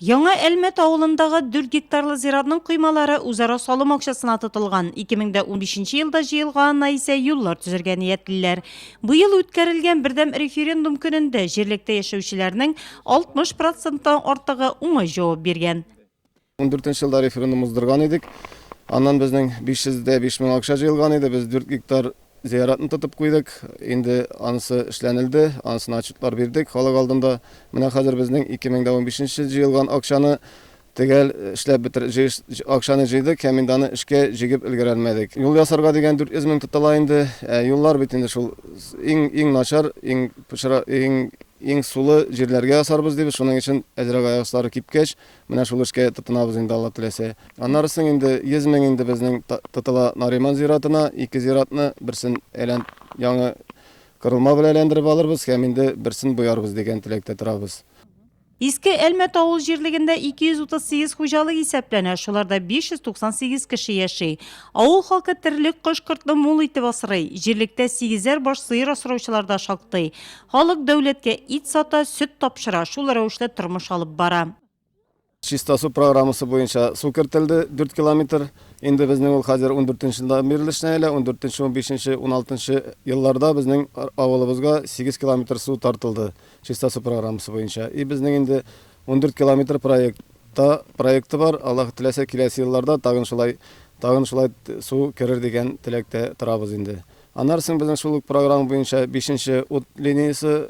Яңа Әлмәт авылындагы 4 гектарлы зиратның коймалары үзара салым акчасына тотылган. 2015 елда җыелганына исә юллар төзергә ниятлиләр. Быел үткәрелгән бердәм референдум көнендә җирлектә яшәүчеләрнең 60 проценттан артыгы уңай җавап биргән. Ундүртенче елда референдум уздырган идек. Аннан безнең 500 дә 5 мең акча җыелган иде. Без 4 гектар зыяратны тотып куйдык. Инде анысы эшләнелде, анысына отчетлар бирдек халык алдында. Менә хәзер безнең 2015 җыелган акчаны төгәл эшләп бетер, җыеш, акчаны җыйдык һәм инде аны эшкә җигеп өлгерәлмәдек. Юл ясарга дигән 400 мең тотыла инде. Ә юллар бит инде шул иң, иң начар, иң пычра, иң, иң сулы җирләргә ясарбыз дибез. Шуның өчен әзрәк аяк аслары кипкәч, Менә шул эшкә тотынабыз инде, Алла теләсә. Аннары соң инде 100 мең инде безнең тотыла Нариман зиратына, ике зиратны, берсен әйлән яңа корылма белән әйләндереп алырбыз һәм инде берсен боярбыз дигән теләктә торабыз. Иске Әлмәт авыл җирлегендә 238 хуҗалык исәпләнә, шуларда 598 кеше яши. Авыл халкы терлек кош-кортны мул итеп асрый. Җирлектә сигезәр баш сыер асраучылар да шактый. Халык дәүләткә ит сата, сөт тапшыра, шул рәвешле тормыш алып бара. Чиста су программасы буенча су кертелде, дүрт километр. Инде безнең ул хәзер ундүртенче елда бирелде эшенә әле, ундүртенче, унбишенче, уналтынчы елларда безнең авылыбызга сигез километр су тартылды чиста су программасы буенча. И безнең инде ундүрт километр проект та проекты бар, Аллаһ теләсә, киләсе елларда тагын шулай тагын шулай су керер дигән теләктә торабыз инде. Аннары соң безнең шул ук программа буенча бишенче ут линиясе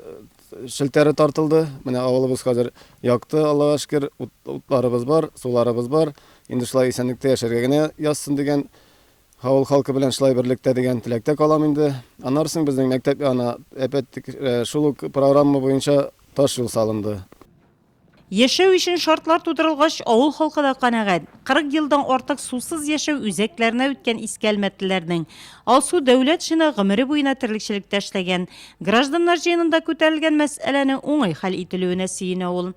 челтәре тартылды. Менә авылыбыз хәзер якты, Аллага шөкер, утларыбыз бар, суларыбыз бар. Инде шулай исәнлектә яшәргә генә язсын дигән авыл халкы белән шулай берлектә дигән теләктә калам инде. Аннары соң безнең мәктәп янына әпәттек, шул ук программа буенча таш юл салынды. Яшәү өчен шартлар тудырылгач, авыл халкы да канәгать. 40 елдан артык сусыз яшәү үзәкләренә үткән иске әлмәтлеләрнең Алсу Дәүләтшина гомере буена терлекчелектә эшләгән. Гражданнар җыенында күтәрелгән мәсьәләнең уңай хәл ителүенә сөенә ул.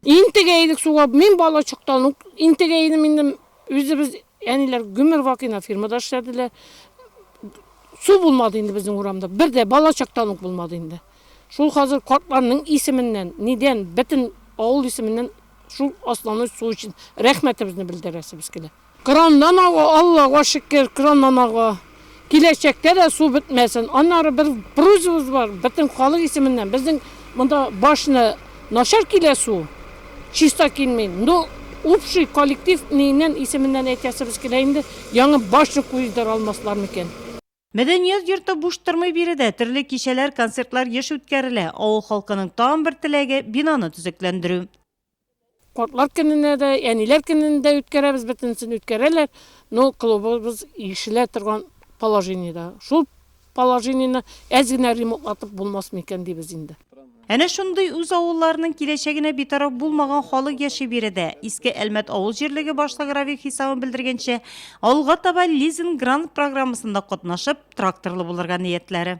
Интегә идек суга. Мин балачактан ук интегә идем инде. Үзебез, әниләр гомер вакыйна фирмада эшләделәр. Су булмады инде безнең урамда. Бер дә балачактан ук булмады инде. Шул хәзер картларның исеменнән, нидән, бөтен авыл исеменнән шул асланы су өчен рәхмәтебезне белдерәсебез килә. Краннан ага, Аллага шөкер, краннан ага. Киләчәктә дә су бетмәсен. Аннары бер просьбабыз бар, бөтен халык исеменнән, безнең монда башны начар килә су, чиста килми. Ну, общий коллектив ниеннән исеменнән әйтәсебез килә инде, яңы башня куйдыра алмаслар микән? Мәдәният йорты буш тормый биредә, төрле кичәләр, концертлар еш үткәрелә. Авыл халкының тагын бер теләге, бинаны төзекләндерү. Картлар көненә дә, әниләр көнен дә үткәрәбез, бөтенесен үткәрәләр, но клубыбыз ирешелә торган положениедә. Шул положениене әз генә ремонтлатып булмасмы икән дибез инде. Әнә шундый үз авылларының киләчәгенә битараф булмаган халык яши биредә. Иске Әлмәт авыл җирлеге башлыгы Равих Исаун белдергәнчә, алга таба лизинг-грант программасында катнашып, тракторлы булырга ниятләре.